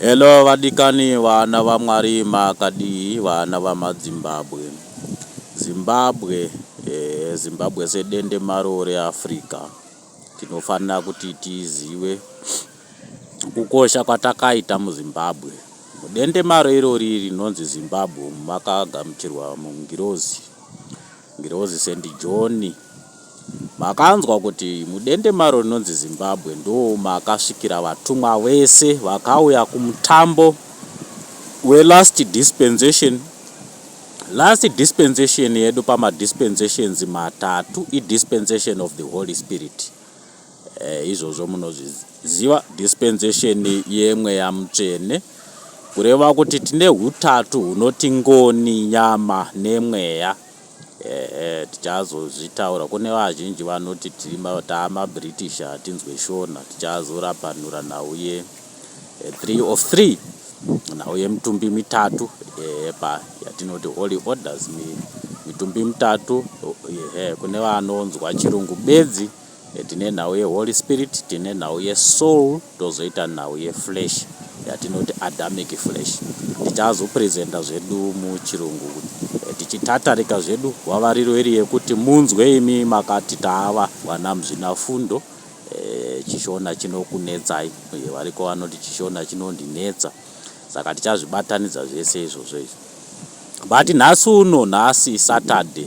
Hello vadikani vana vaMwari makadii vana vamaDzimbabwe Zimbabwe eh, Zimbabwe sedendemaro reAfrica tinofanira kuti tizive kukosha kwatakaita muZimbabwe mudendemaro irori rinonzi Zimbabwe makagamuchirwa mungirozi ngirozi St John Makanzwa kuti mudendemaro rinonzi Zimbabwe ndomakasvikira vatumwa vese vakauya kumutambo welast dispensation. Last dispensation yedu pamadispensations matatu idispensation of the Holy Spirit. Eh, izvozvo munozviziva dispensation yemweya mutsvene kureva kuti tine utatu hunoti ngoni, nyama nemweya. Ehe tichazozvitaura kune vazhinji vanoti taama British hatinzwe Shona tichazorapanura nhau ye eh, three of three nhau yemutumbi mitatu ehe pa yatinoti holy orders mitumbi mitatu ehe kune vanonzwa chirungu bedzi Tine nhau yeHoly Spirit, tine nhau yeSoul, tozoita nhau yeFlesh yatinoti Adamic Flesh. Tichazopresenta zvedu muchirungu eh, tichitatarika zvedu hwavariro iri yekuti munzwe imi makati tava vanamuzvinafundo eh, chishona chinokunetsai uye variko vanoti chishona chinondinetsa saka tichazvibatanidza zvese izvozvo izvi but nhasi uno nhasi Saturday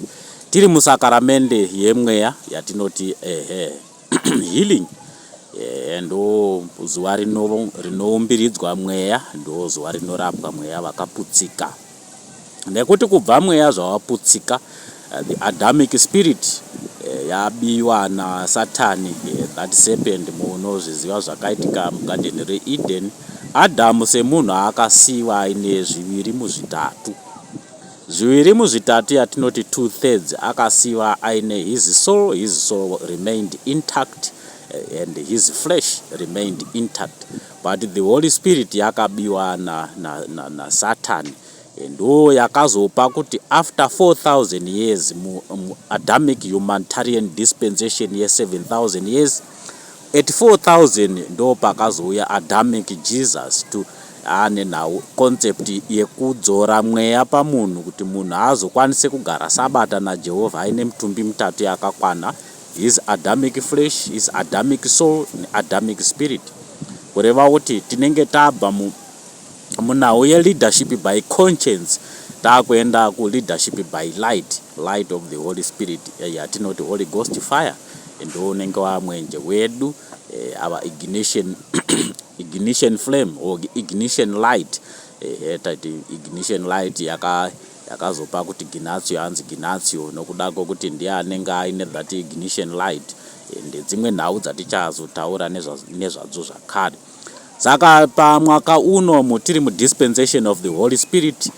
tiri musakaramende yemweya yatinoti ehe healing ehe ndo zuva rinoumbiridzwa mweya ndo zuva rinorapwa mweya vakaputsika nekuti kubva mweya zvawaputsika eh, the adamic spirit eh, yabiwa nasatani eh, that serpent munozviziva zvakaitika mugadheni reeden adamu semunhu akasiyiwa aine zviviri muzvitatu zviviri muzvitatu yatinoti two thirds akasiyiwa aine his soul his soul remained intact and his flesh remained intact But the Holy Spirit yakabiwa na, na, na, na Satan ndo yakazopa kuti after 4000 years mu, mu Adamic humanitarian dispensation ye 7000 years at 4000 ndo pakazouya Adamic Jesus to ane nhau concept yekudzora mweya pamunhu kuti munhu haazokwanise kugara sabata naJehovha aine mitumbi mitatu yakakwana his Adamic flesh, his Adamic soul ne Adamic spirit. Kureva kuti tinenge tabva mu munhau ye leadership by conscience takuenda ku leadership by light light of the holy spirit eh, yatinoti holy ghost fire ndo unenge wa mwenje wedu eh, our ignition ignition flame or ignition light eh, tati ignition light yaka Yakazopa kuti Ginatio anzi Ginatio nokuda kwekuti ndiye anenge aine that ignition light and dzimwe nhau dzatichazotaura nezvadzo zvakare. Saka pamwaka uno mutiri mudispensation of the Holy Spirit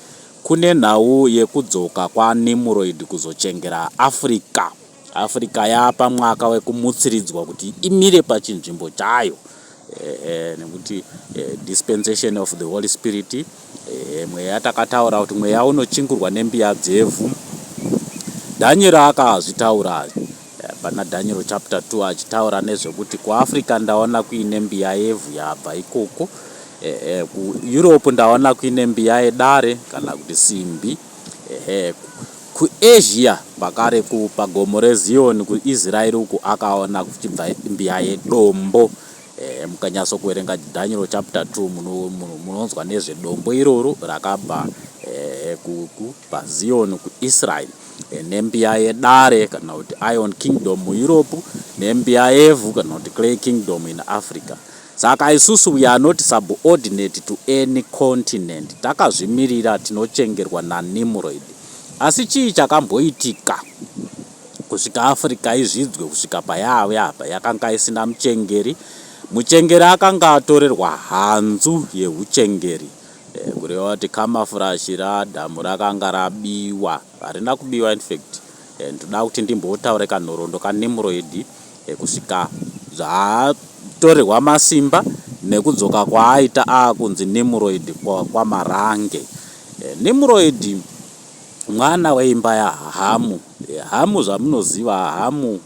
kune nhau yekudzoka kwaNimroid kuzochengera Africa. Africa yapa mwaka wekumutsiridzwa kuti imire pachinzvimbo chayo eh, eh, nekuti eh, dispensation of the holy spirit eh, mweya takataura kuti mweya unochingurwa nembiya dzevhu dhanyero akazvitaura eh, pana dhanyero chapter 2 achitaura nezvekuti kuafrica ndaona kuine mbiya yevhu yabva ikoko eh, eh, kueurope ndaona kuine mbiya yedare kana kuti simbi Ehe, kuAsia kwakare, kupaGomo reZioni, kuIsraeri uku, akaona kuchibva mbiya yedombo. Ehe, mukanyatso kuverenga Dhanyero chapter 2 muno, muno, munonzwa nezvedombo iroro rakabva ehe, ku, ku, paZioni, kuIsraeri e, nembiya yedare kana kuti Iron Kingdom muEurope, nembiya yevhu kana kuti Clay Kingdom in Africa. Saka isusu we are not subordinate to any continent takazvimirira tinochengerwa naNimroid. Asi chii chakamboitika kusvika Africa izvidzwe kusvika payave apa yakanga isina muchengeri. Muchengeri akanga atorerwa hanzu yehuchengeri eh, kureva kuti kamafurashi radhamu rakanga rabiwa. Harina kubiwa infact ndoda kuti ndimbotaure kanhoroondo kaNimroid kusvika zvatorerwa masimba nekudzoka kwaaita aakunzi Nimroid kwaMarange. Nimroid mwana weimba yaHamu. Hamu zvamunoziva Hamu.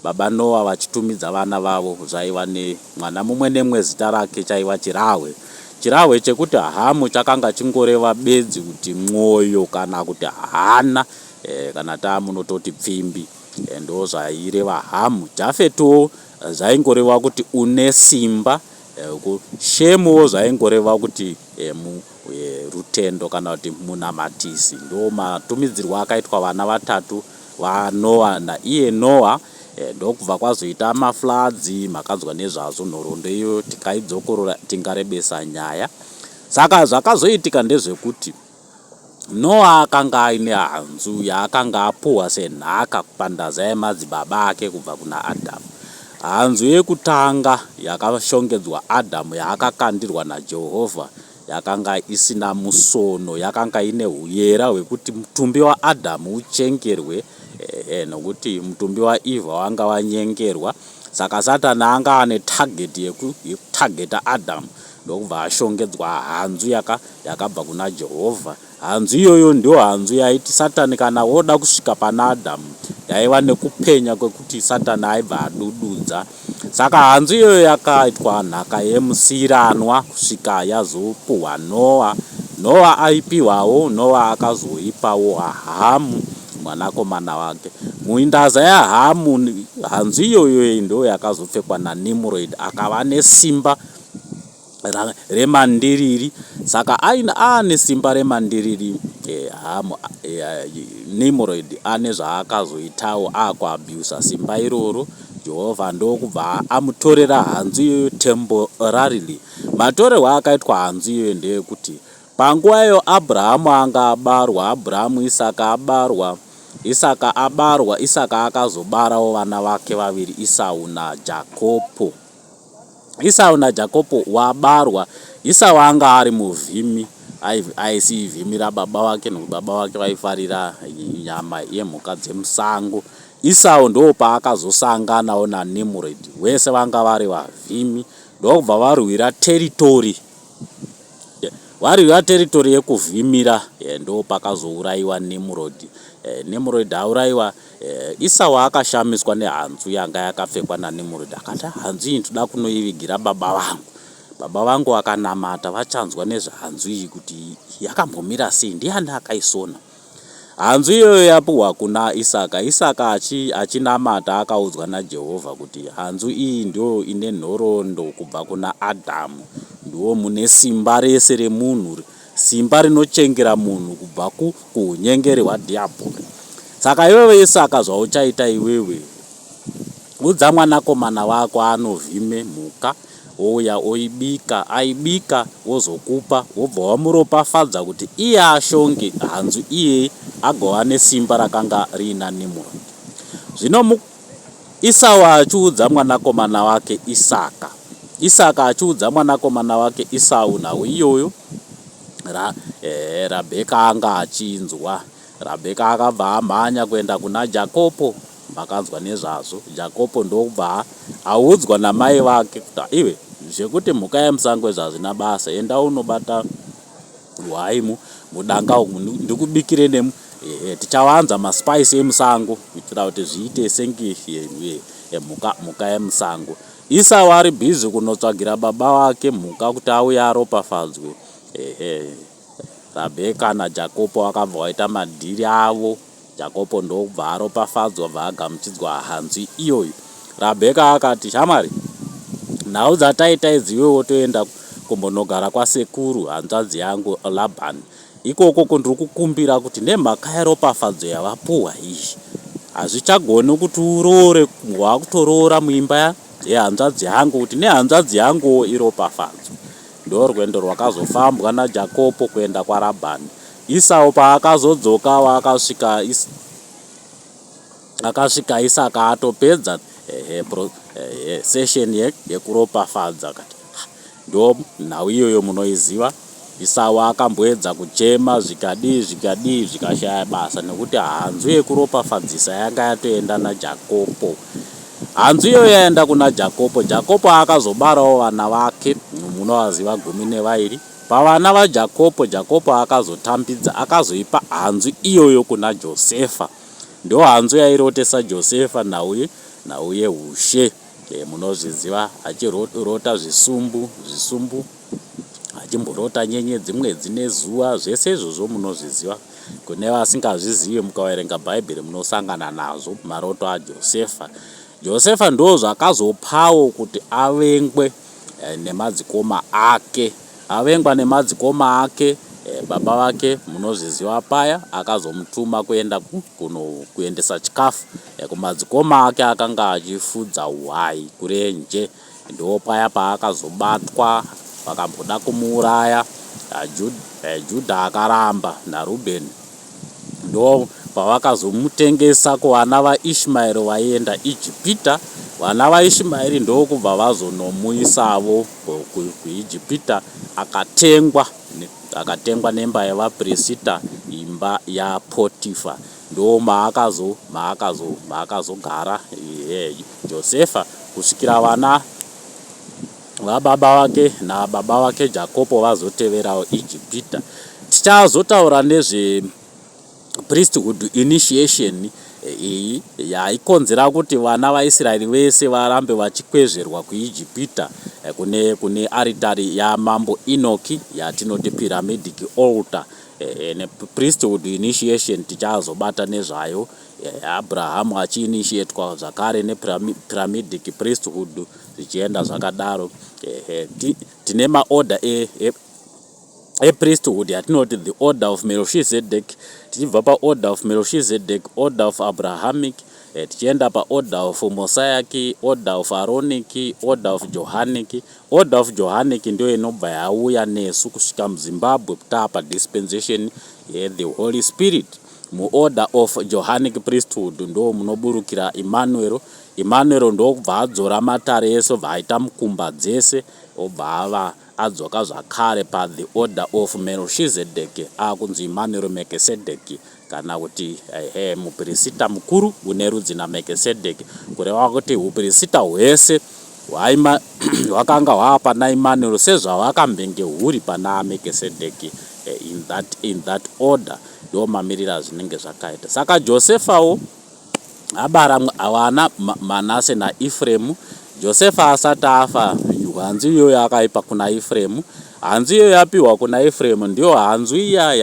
Baba Noah vachitumidza vana vavo zvaiva ne mwana mumwe nemwe zita rake chaiva Chirahwe. Chirahwe chekuti Hamu chakanga chingoreva bedzi kuti mwoyo kana kuti hana eh, kana taa munototi pfimbi eh, ndozvaireva Hamu. Jafet wo zvaingoreva kuti une simba eh, ku Shem wo zvaingoreva kuti eh, mu eh, rutendo kana kuti munamatisi. Ndo matumidzirwo akaitwa vana vatatu VaNoah naiye Noah eh, ndokubva kwazoita mafloods makanzwa nezvazvo nhoroondo iyo tikaidzokorora tingarebesa nyaya saka zvakazoitika ndezvekuti Noah akanga aine hanzu yaakanga apuhwa senhaka pandaza yemadzibaba ake kubva kuna Adamu hanzu yekutanga yakashongedzwa Adamu yaakakandirwa naJehovha Yakanga isina musono, yakanga ine huyera hwekuti mutumbi waAdhamu uchengerwe, ehe, nokuti mutumbi waEvha wanga wanyengerwa. Saka Satani anga ane target yeku, yekutargeta Adhamu ndokubva ashongedzwa hanzu yaka, yakabva kuna Jehovha. Hanzvu iyoyo ndiyo hanzvu yaiti Satani kana woda kusvika pana Adhamu yaiva nekupenya kwekuti Satani aibva adududza. Saka hanzvu iyoyo yakaitwa nhaka yemusiiranwa kusvika yazopuhwa Noa. Noa aipiwawo, Noa akazoipawo Hamu mwanakomana wake. Muindaza yaHamu, hanzvu iyoyo ndiyo yakazopfekwa naNimrod akava nesimba. remandiriri saka aane simba remandiriri hamu Nimrod ane zvaakazoitawo aku abuser simba iroro Jehovah ndokubva amutorera hanzu iyoyo temporarily matorerwo akaitwa hanzu iyoyo ndeekuti panguva iyoyo Abraham anga abarwa Abraham Isaka abarwa Isaka abarwa Isaka akazobarawo vana vake vaviri Esau naJakopo Isau naJakopo wabarwa. Isau anga ari muvhimi, aisivhimira baba wake nokuti baba wake vaifarira nyama yemhuka dzemusango. Isau ndo paakazosanganawo naNimrod, wese vanga vari vavhimi ndokubva varwira teritori varwira teritori yekuvhimira ndo pakazourayiwa Nimrod. Nimrod aurayiwa. Isau akashamiswa nehanzu yanga yakapfekwa naNimurudhi akati, Hanzu iyi ndoda kunoivigira baba vangu. Baba vangu vakanamata vachanzwa nezvehanzu iyi kuti yakambomira sei, ndiani akaisona. Hanzu iyoyo yapiwa kuna Isaka. Isaka achinamata akaudzwa naJehovha kuti hanzu iyi ndiyo ine nhoroondo kubva kuna Adhamu, ndiwo mune simba rese remunhu. Simba rinochengera munhu kubva ku kuhunyengeri hwadhiabhori. Saka iwewe Isaka zvauchaita iwewe, Udza mwanakomana wako anovhime mhuka, wouya oibika, aibika wozokupa, wobva wamuropafadza kuti iye ashonge hanzu iyeye agova nesimba rakanga riina Nimrod. Zvino mu. Isau achiudza mwanakomana wake Isaka. Isaka achiudza mwanakomana wake Isau nhau iyoyo. Ra, eh, Rabheka anga achinzwa. Rabheka akabva amhanya kuenda kuna Jakopo makanzwa nezvazvo jakopo ndokubva audzwa namai vake kuti iwe zvekuti mhuka yemusango izvo hazvina basa enda unobata Ruhai mu mudanga umu ndikubikire nemu ehe tichawanza ma spice emusango kuitira kuti zviite senge mhuka mhuka yemusango. Esau ari busy kunotsvagira baba wake mhuka kuti auye aropafadzwe ehe. Rabheka na Jakopo vakabva vaita madhiri avo. Jakopo ndokubva aropafadzwa obva agamuchidzwa hanzwi iyoyo. Rabheka akati, Shamwari, nhau dzataita idzi iwe wotoenda kumbonogara kwasekuru hanzvadzi yangu Labhani. Ikoko kundiri kukumbira kuti nemhaka yeropafadzo yavapuwa iyi, hazvichagoni kuti uroore, wakutoroora muimba yehanzvadzi yangu kuti nehanzvadzi yanguwo iropafadzwe. Ndorwendo rwakazofambwa naJakopo kuenda kwaRabhani. Isau paakazodzoka akasvika is, akasvika Isaka atopedza ehe, pro, ehe, session ye, yekuropafadza kati ndo nhau iyoyo munoiziva. Isau akamboedza kuchema zvikadii zvikadii zvikashaya basa nekuti hanzu yekuropafadzisa yanga yatoenda naJakopo. Hanzu iyoyo yaenda kuna Jakopo. Jakopo akazobarawo vana vake, munovaziva, gumi nevairi. Pavana vaJakopo, Jakopo akazotambidza, akazoipa hanzu iyoyo kuna Josefa. Ndiyo hanzu yairotesa Josefa nhau, nhau yehushe. E, munozviziva, achirota zvisumbu, zvisumbu. achimborota nyenyedzi, mwedzi nezuva, zvese izvozvo munozviziva. Kune vasingazvizive, mukaverenga Bhaibheri munosangana nazvo, maroto aJosefa. Josefa ndozvakazopawo kuti avengwe eh, nemadzikoma ake. Avengwa nemadzikoma ake eh, baba vake munozviziva paya akazomutuma kuenda kuno kuendesa chikafu eh, kumadzikoma ake akanga achifudza uhai kurenje. Ndopaya paakazobatwa vakamboda kumuuraya Judha akaramba naRubheni ndopavakazomutengesa kuvana vaIshmaeri vaienda Ijipita vana vaIshmaeri ndokubva vazonomuisavo kuIjipita akatengwa akatengwa nemba yevapirisita imba yaPotifa. ndomaakazo maakazo maakazogara ehe Josefa kusvikira vana vababa vake nababa vake Jakopo vazoteverawo Ijipita. Tichazotaura nezve priesthood initiation iyi yaikonzera kuti vana vaIsraeri vese varambe vachikwezverwa kuIjipita eh, kune kune aritari yaMambo Enoki yatinoti pyramidiki altar Ehe, nepriesthood initiation tichazobata nezvayo. Ehe, Abraham achiinitiatwa zvakare nepyramidic priesthood zvichienda zvakadaro. Ehe, ti, tine maorder e, e, epriesthood yatinoti the order of Melchizedek, tichibva paorder of Melchizedek, order of Abrahamic, eh, tichienda paorder of Mosaic, order of Aaronic, order of Johanic, Order of Johanneki ndiyo inobva yauya nesu kusvika muZimbabwe kuti apa dispensation yeThe Holy Spirit. MuOrder of Johanneki Priesthood ndoo munoburukira Imanuero. Imanuero ndokubva adzora matare ese obva aita mukumba dzese obva ava adzoka zvakare paThe Order of Melchizedeki akunzi Imanuero Mekesedeki kana kuti ehe, mupirisita mukuru une rudzi naMekesedheki, kureva kuti hupirisita hwese hwakanga hwava pana Imanero sezvahwakambenge huri pana Mekesedheki eh, in that, in that order. Ndo mamiriro azvinenge zvakaita. Saka Josefawo Abara vana Manase naEfremu. Josefa asati afa, hanzu iyoyo akaipa kuna Efremu. Hanzu iyoyo yapiwa kuna Efremu ndiyo hanzu iya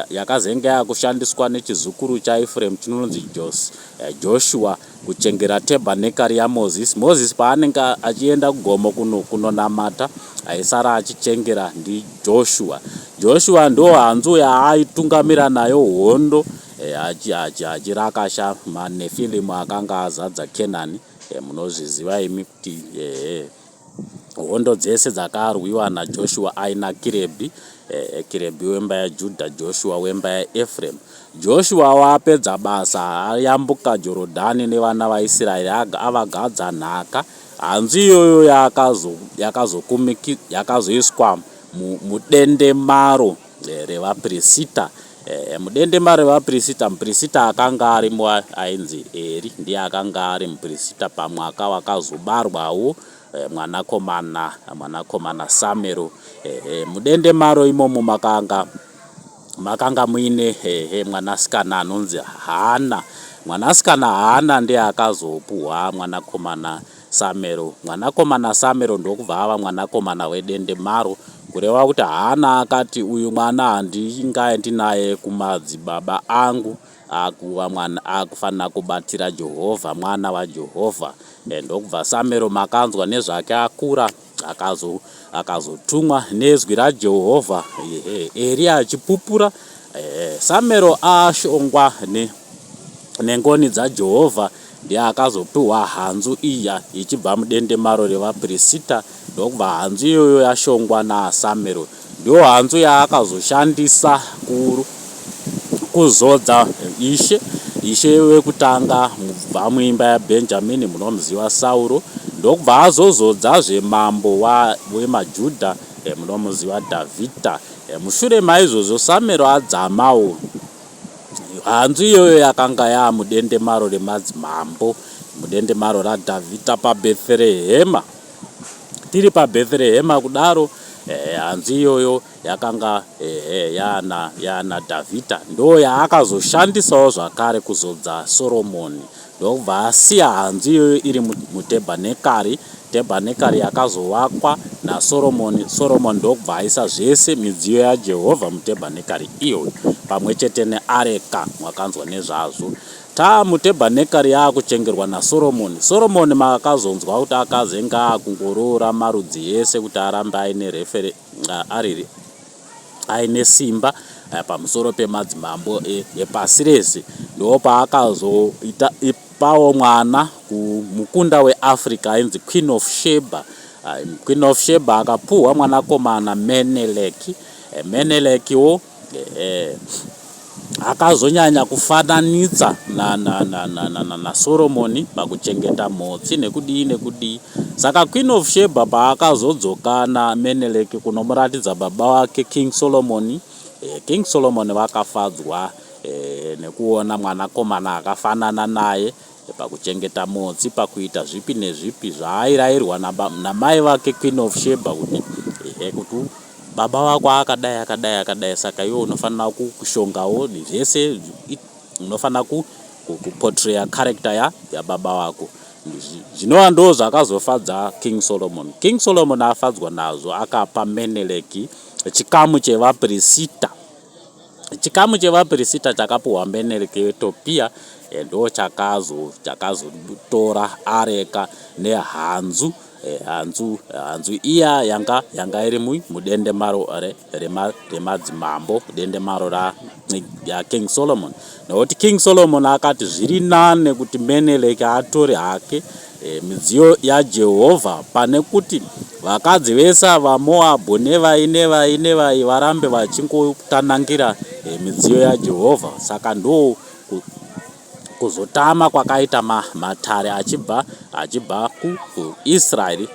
yakazenge yakushandiswa nechizukuru chaEfremu chinonzi eh, Joshua kuchengera tebhanekari yaMozisi. Mozisi paanenge achienda kugomo kunonamata aisara achichengera ndiJoshua. Joshua ndiwo hanzu yaaitungamira nayo hondo Eh, hachi, hachi, hachi rakasha ma nefilimu akanga azadza kenani eh, munozviziva imi kuti eh, hondo dzese dzakarwiwa najoshua aina kirebhi eh, kirebhi wemba yajudha joshua wemba yaefremu joshua wapedza basa ayambuka jorodhani nevana vaisraeri avagadza nhaka hanzi iyoyo yakazoiswa mudendemaro eh, revapirisita Eh, mudendemari vapirisita mupirisita akanga arimo ainzi eri ndiye akanga ari mupirisita pamwaka wakazobarwawo eh, mwanakomana mwanakomana samero eh, eh, mudendemaro imomo makanga makanga muine eh, eh, mwanasikana anonzi hana mwanasikana hana ndiye akazopuhwa mwanakomana Samero, Mwanakomana Samero ndokubva ava Mwanakomana weDendemaro kureva kuti haana akati uyu mwana handingae ndinaye kumadzibaba angu akuva mwana akufanira kubatira Jehovha mwana waJehovha ndokubva Samero makanzwa nezvake akura akazo akazotumwa nezwi raJehovha ehe Eria achipupura ehe Samero ashongwa ne nengoni dzaJehovha ndiye akazopiwa hanzu iya ichibva mudendemaro revapirisita ndokubva hanzu iyoyo yashongwa naSamero Ndohanzu yaakazoshandisa kuzodza Ishe. Ishe wekutanga kubva muimba yaBhenjamini munomuziva Sauro, ndokubva azozodzazve mambo wemaJudha munomuziva Dhavhidha. Mushure maizvozvo Samero adzamawo, hanzu iyoyo yakanga yaamudendemaro remadzimambo, mudendemaro raDhavhidha paBhetrehema. tiri paBhethrehema kudaro eh, hanzi iyoyo yakanga eh, eh, yaana, yaana Dhavhidha. Ndo yaakazoshandisawo zvakare kuzodza Soromoni. Ndokubva asiya hanzi iyoyo iri mutebhanekari, tebhanekari yakazovakwa naSoromoni. Soromoni ndokubva aisa zvese midziyo yaJehovha mutebhanekari iyoyo, pamwe chete neareka, mwakanzwa nezvazvo. Tamu tebhanekari yaakuchengerwa naSoromoni. Soromoni makazonzwa kuti akazenge aakungoroora marudzi ese kuti arambe aine refere, ari, aine simba eh, pamusoro pemadzimambo eh, epasi rese. Ndoo paakazoita pawo mwana kumukunda weAfrica ainzi Queen of Sheba. Ah, Queen of Sheba akapuhwa mwanakomana Meneleki. Eh, Menelekiwo Akazonyanya kufananidza naSoromoni pakuchengeta mhotsi nekudii nekudii. Saka Queen of Sheba paakazodzoka naMenelek kunomuratidza baba wake King Solomon, King Solomon vakafadzwa nekuona mwanakomana akafanana naye. pakuchengeta motsi pakuita zvipi nezvipi zvaairairwa namai vake queen of sheba kuti ehe kuti baba vako akadai akadai akadai saka iwe unofanira kushongawo zvese unofanira kuportreya character ya yababa vako zvinova ndo zvakazofadza king solomon king solomon afadzwa nazvo akapa meneleki chikamu chevapirisita Chikamu chevapirisita chakapuhwa Menereki weEtiopia eh, ndo chakazo chakazotora areka nehanzu eh, hanzu eh, hanzu iya yanga yanga iri mu- mudendemaro re- rema- remadzimambo dendemaro ra eh, ya King Solomon nekuti King Solomon akati zviri nane kuti Menereki atore hake Midziyo yaJehovha. Pane kuti vakadzi vese ava Moabhu nevai nevai nevai varambe vachingotanangira midziyo yaJehovha. Saka ndo kuzotama kwakaita matare achibva achibva kuIsraeri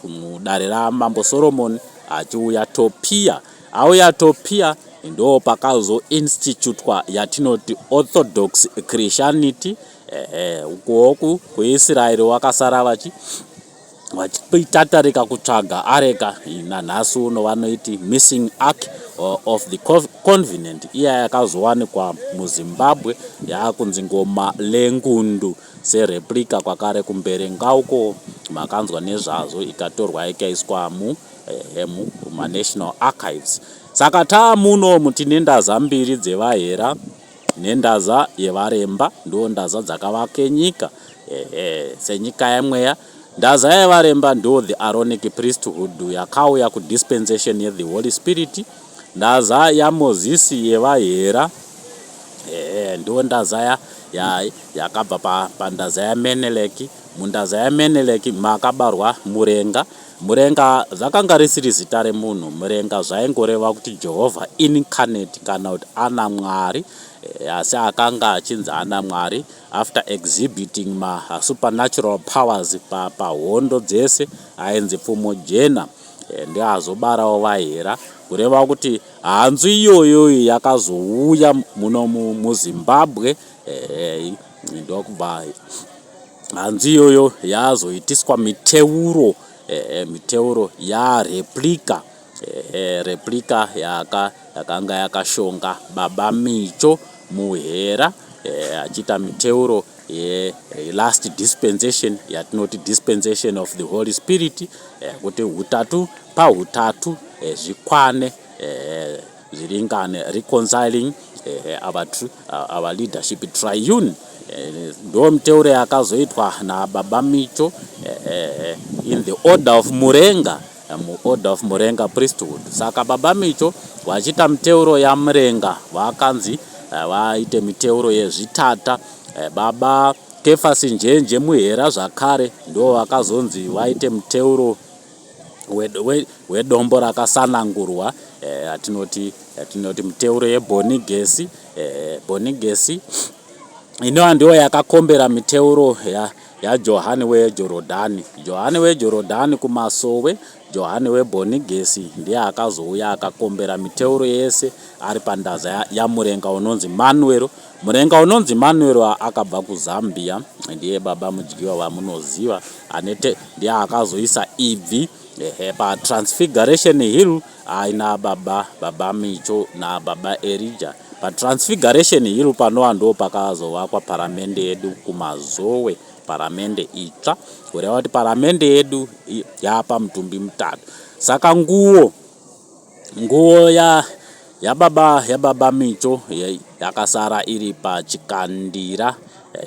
mudare ramambo Soromoni achiuya Topia. Auya Topia ndo pakazoinstitutwa yatinoti Orthodox Christianity Ehe, ukuwoku kuIsraeri wakasara vachi vachitatarika kutsvaga areka nanhasi uno vanoiti missing ark of the convenant iya yakazowanikwa muzimbabwe yaakunzi ngoma lengundu sereplica kwakare kumberenga uko makanzwa nezvazvo ikatorwa ikaiswa mu ehe mumanational archives saka taamuno mutine ndaza mbiri dzevahera Nendaza yevaremba ndiwo ndaza dzakavake nyika ehe senyika yemweya ndaza yevaremba ndiwo the aronic priesthood yakauya kudispensation ye the holy spirit ndaza yamozisi yevahera ehe ndiwo ndaza ya yakabva pandaza yameneleki mundaza yameneleki makabarwa murenga Murenga rakanga risiri zita remunhu. Murenga zvaingoreva kuti Jehovha Incarnate kana kuti Ana Mwari. Eh, asi akanga achinzi Ana Mwari after exhibiting ma supernatural powers pahondo pa dzese ainzi pfumo jena eh, ndeazobarawo vahera kureva kuti hanzu iyoyoyi yakazouya muno muzimbabwe eh, ndokubva Hanzi iyoyo yazoitiswa miteuro eh, miteuro yareplica eh, replica yaka yakanga yakashonga baba Micho Muhera eh, achiita miteuro ye last dispensation yatinoti dispensation of the Holy Spirit eh, kuti hutatu pahutatu eh, zvikwane eh, zviringane reconciling uh, our, uh, our leadership triune eh, ndo miteuro yakazoitwa nababa micho eh, in the order of murenga muorder of murenga priesthood saka baba micho vachiita miteuro yamurenga vakanzi vaite miteuro yezvitata baba kefasi njenje muhera zvakare ndo vakazonzi vaite miteuro hwedombo we, we rakasanangurwa eh, yatinoti yatinoti muteuro yebhonigesi eh, bhonigesi inowa ndiyo yakakombera miteuro ya yajohani wejorodhani johani wejorodhani kumasowe johani webhonigesi ndiye akazouya akakombera miteuro yese ari pandaza yamurenga ya unonzi manuero Murenga unonzi Manuel akabva kuZambia ndiye baba mudyiwa vamunoziva anete ndiye akazoisa ibvi ehe paTransfiguration Hill aina baba baba Micho nababa Elijah paTransfiguration Hill panova ndo pakazovakwa paramende yedu kumazowe paramende itsva kureva kuti paramende yedu yapa mutumbi mutatu saka nguwo Nguwo ya yababa yababa Micho yakasara iri pachikandira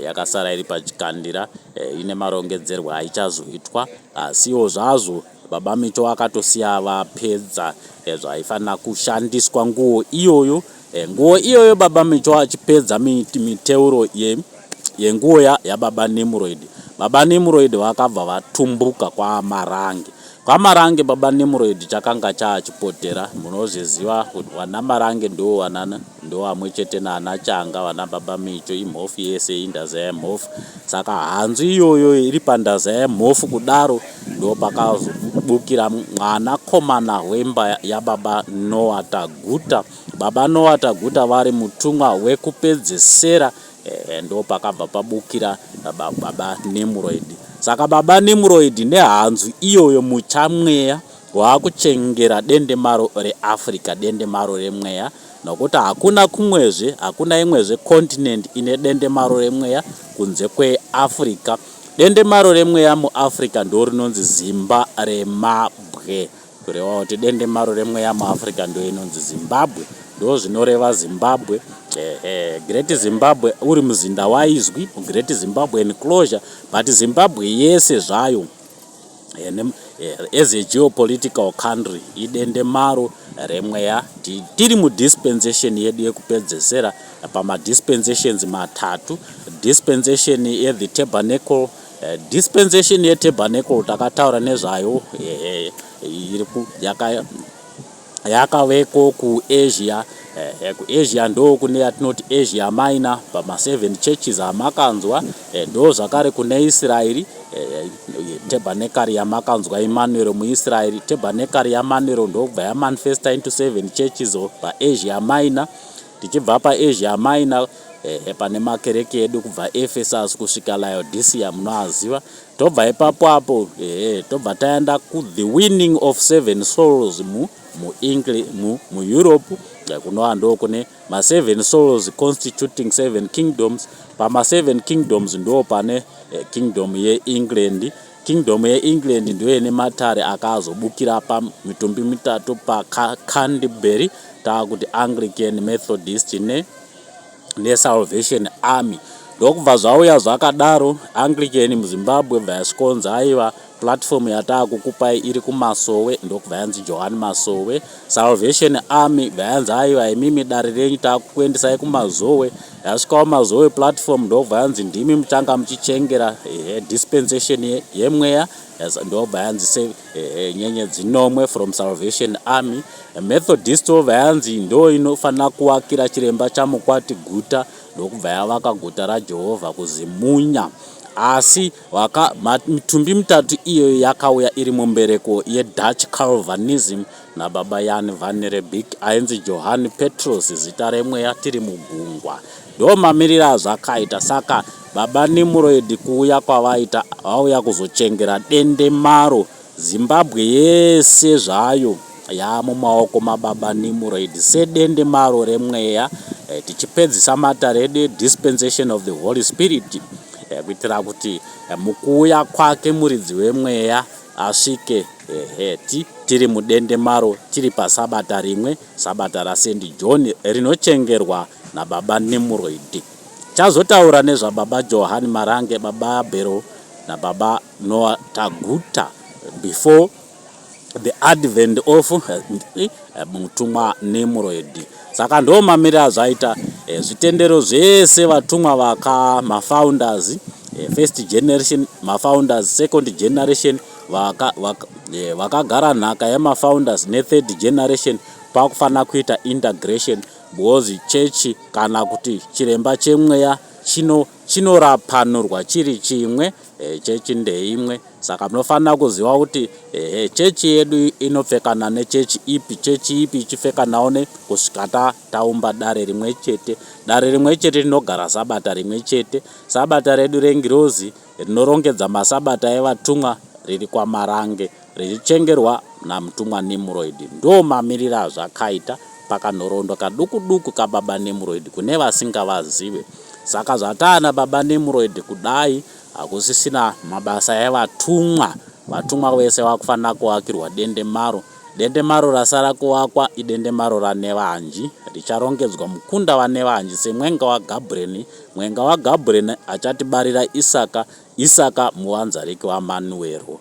yakasara iri pachikandira ine marongedzerwo aichazoitwa asiwo zvazvo baba Micho akatosiya vapedza zvaifanira kushandiswa nguwo iyoyo. E, nguwo iyoyo baba Micho achipedza mit, miteuro ye, yenguwo ya, yababa Nemuroidi. Baba Nemuroidi vakabva vatumbuka kwaMarange. KwaMarange baba Nemuroidi chakanga chaachipotera. Munozviziva kuti vana Marange ndiwo vanana ndiwo vamwe chete nana Changa vana baba Micho imhofu yese indaza yemhofu. Saka hanzu iyoyo iri pandaza yemhofu kudaro ndopakazobukira mwana komana wemba yababa Noah Taguta baba Noah Taguta vari mutumwa wekupedzesera eh, ndopakabva pabukira baba, baba Nimroid saka baba Nimroid nehanzwi iyoyo muchamweya waakuchengera dende maro reAfrica dende maro remweya nokuti hakuna kumwezve hakuna imwezve continent ine dende maro remweya kunze kweAfrica Dendemaro remweya muAfrica ndorinonzi zimba remabwe kurevawo kuti dendemaro remweya muAfrica ndoinonzi Zimbabwe ndozvinoreva Zimbabwe ehe Great Zimbabwe uri muzinda waizwi Great Zimbabwe enclosure but Zimbabwe yese zvayo as a geopolitical country idendemaro remweya tiri mudispensation yedu yekupedzesera pamadispensations matatu dispensation yethe tabernacle eh, dispensation yetabernacle takataura nezvayo eh, eh, yakaveko kuAsia eh, kuAsia ndo kune yatinoti Asia Minor pama seven churches amakanzwa eh, ndo zvakare kune Israeri eh, tabernacle yamakanzwa Emmanuel muIsraeri tabernacle yaManero ndokubva yamanifesta into seven churches of paAsia Minor tichibva paAsia Minor eh, pane makereke edu kubva Ephesus kusvika Laodicea munoaziva Tobva ipapo apo ehe tobva taenda ku the winning of seven souls mu mu England mu, mu Europe kunova ndokune ma seven souls constituting seven kingdoms pama seven kingdoms ndo pane eh, kingdom ye England kingdom ye England ndiyo ine matare akazobukira pa mitumbi mitatu pa Canterbury takuti Anglican Methodist ne neSalvation Army ndokubva zvauya zvakadaro Anglican muZimbabwe bva yasvikonzi aiva platform yatakukupai iri kumasowe ndokubva yanzi Johan Masowe Salvation Army bva yanzi aiva imimi dare renyu takukuendesai kumazowe yasvikawo mazowe platform ndokubva yanzi ndimi muchanga muchichengera ehe dispensation yemweya ndokubva yanzi se ehe nyenye dzinomwe from Salvation Army Methodisto vayanzi ndoo inofanira kuvakira chiremba chaMukwati guta ndokubva yavaka guta raJehovha kuZimunya. Asi waka, ma, mitumbi mitatu iyoyo yakauya iri mumbereko yeDutch Calvinism naBaba Jan van Riebeeck ainzi Johann Petrus zita remweya tiri mugungwa. Ndoo mamiriro azvakaita saka Baba Nimroid kuuya kwavaita vauya kuzochengera dendemaro Zimbabwe yese zvayo yaa mumaoko mababa Nimroid sedende maro remweya eh, tichipedzisa matare edu edispensation of the Holy Spirit eh, kuitira kuti eh, mukuuya kwake muridzi wemweya asvike heti tiri mudende maro tiri pasabata rimwe sabata raSt John rinochengerwa nababa Nimroid. Chazotaura nezvababa Johan Marange, baba Bhero nababa Noah Taguta before the advent of eh, mutumwa nemuroedi saka ndo mamiriro azvaita eh, zvitendero zvese vatumwa vaka mafounders eh, first generation mafounders second generation vakagara nhaka yemafounders nethird generation pakufanira kuita integration because chechi kana kuti chiremba chemweya chinorapanurwa chiri chimwe eh, chechi ndeimwe saka munofanira kuziva kuti eh, chechi yedu inopfekana nechechi ipi chechi ipi ichipfekanawo ne kusvika ta taumba dare rimwe chete dare rimwe chete rinogara sabata rimwe chete sabata redu rengirozi rinorongedza masabata evatumwa riri kwamarange richichengerwa naMutumwa Nemuroid. Ndoo mamiriro azvakaita pakanhoroondo kaduku duku kaBaba Nemuroid kune vasingavazive. Saka zvataana Baba Nemuroid kudai hakusisina mabasa evatumwa. Vatumwa vese vakufanira kuvakirwa dendemaro. Dendemaro rasara kuvakwa idendemaro raNevanji richarongedzwa mukunda waNevanji semwenga waGabreni. Mwenga waGabreni achatibarira Isaka, Isaka muvanzareki waManuwero.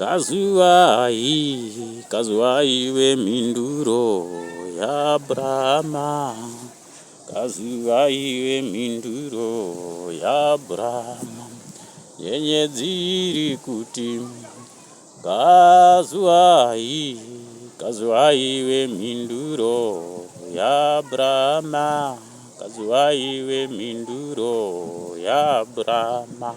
Kazivai, kazivai vemhinduro yaAbrahama, kazivai vemhinduro yaAbrahama, nyenyedzi iri kuti kazivai, kazivai vemhinduro yaAbrahama, kazivai vemhinduro yaAbrahama.